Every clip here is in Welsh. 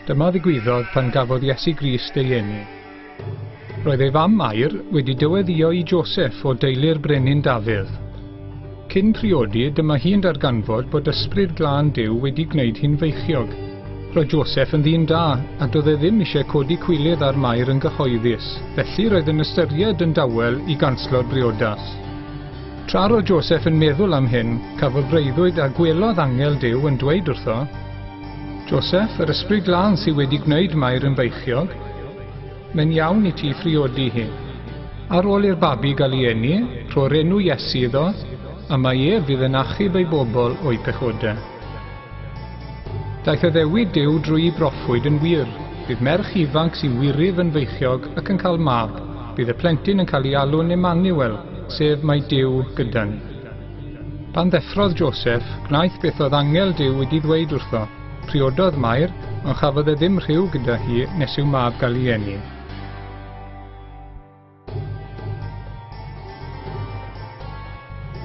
Dyma ddigwyddodd pan gafodd Iesu Grist ei eni. Roedd ei fam Mair wedi dyweddio i Joseph o deulu'r brenin Dafydd. Cyn priodi, dyma hi'n darganfod bod Ysbryd Glân Duw wedi gwneud hi'n feichiog. Roedd Joseph yn ddyn da, a doedd e ddim eisiau codi cwilydd ar Mair yn gyhoeddus, felly roedd yn ystyried yn dawel i ganslo'r briodas. Tra roedd Joseph yn meddwl am hyn, cafodd breuddwyd a gwelodd angel Duw yn dweud wrtho, Joseph, yr Ysbryd Glân sydd wedi gwneud Mair yn feichiog. Mae'n iawn i ti phriodi hi. Ar ôl i'r babi gael ei eni, rho'r enw Iesu iddo, a mae ef fydd yn achub ei bobl o'u pechodau. Daeth addewid Duw drwy'i broffwyd yn wir, bydd merch ifanc sy'n wirydd yn feichiog ac yn cael mab, bydd y plentyn yn cael ei alw'n Emmanuel, sef mae Duw gyda ni. Pan ddeffrodd Joseph, gwnaeth beth oedd angel Duw wedi ddweud wrtho. Priododd Mair, ond chafodd e ddim rhyw gyda hi nes i'w mab gael ei eni.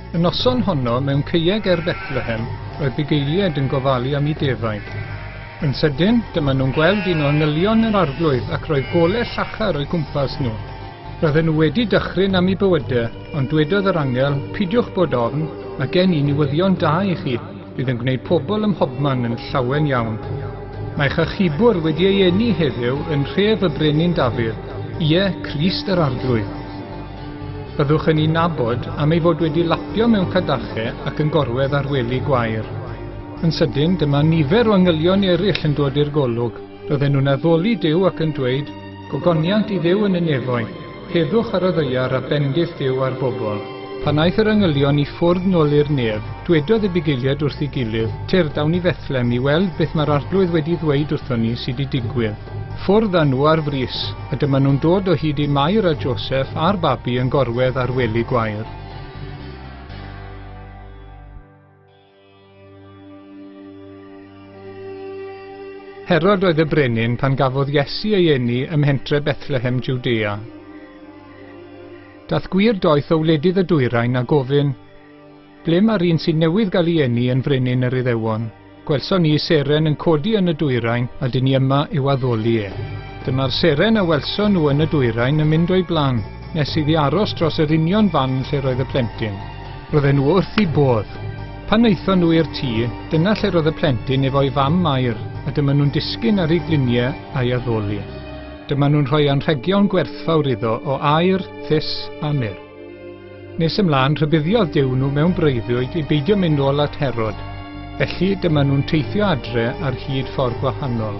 Y noson honno mewn ceieg er Bethlehem, roedd bugeiliaid yn gofalu am i defaid. Yn sydyn, dyma nhw'n gweld un o angylion yr arglwydd ac roedd gole llachar o'i gwmpas nhw. Roedden nhw wedi dychryn am i bywydau, ond dwedodd yr angel, pidiwch bod ofn, mae gen i niwyddion da i chi. Bydd yn gwneud pobl ym mhobman yn llawen iawn. Mae chachubwr wedi ei eni heddiw yn nhref y Brenin Dafydd, ie, Crist yr Arglwydd. Byddwch yn ei nabod am ei fod wedi lapio mewn cadachau ac yn gorwedd ar wely gwair. Yn sydyn, dyma nifer o angylion eraill yn dod i'r golwg. Bydden nhw'n addoli Duw ac yn dweud, Gogoniant i Dduw yn y nefoedd, heddwch ar y ddaear a bendith Duw ar bobl. Pan aeth yr angylion i ffwrdd nôl i'r nef, dwedodd y bugeiliaid wrth ei gilydd, Tir, dawn i Fethlem i weld beth mae'r Arglwydd wedi ddweud wrthon ni sy 'di digwydd. Ffwrdd â nhw ar frys, a dyma nhw'n dod o hyd i Mair a Joseff a'r babi yn gorwedd ar wely gwair. Herod oedd y brenin pan gafodd Iesu ei eni ym mhentre Bethlehem Judea. Dath gwir doeth o wledydd y dwyrain a gofyn, Ble mae'r un sy'n newydd gael ei eni yn frenin yr Iddewon? Gwelson ni seren yn codi yn y dwyrain a dyn ni yma i'w addoli e. Dyma'r seren a welson nhw yn y dwyrain yn mynd o'i blan, nes iddi aros dros yr union fan lle roedd y plentyn. Roedden nhw wrth eu bodd. Pan wnaethon nhw i'r tŷ, dyna lle roedd y plentyn efo'i fam Mair a dyma nhw'n disgyn ar ei gliniau a'i addoli. Dyma nhw'n rhoi anrhegion gwerthfawr iddo o aer, thus a mur. Nes ymlaen, rhybuddiodd Duw nhw mewn breuddwyd i beidio mynd nôl at Herod, felly dyma nhw'n teithio adre ar hyd ffordd gwahanol.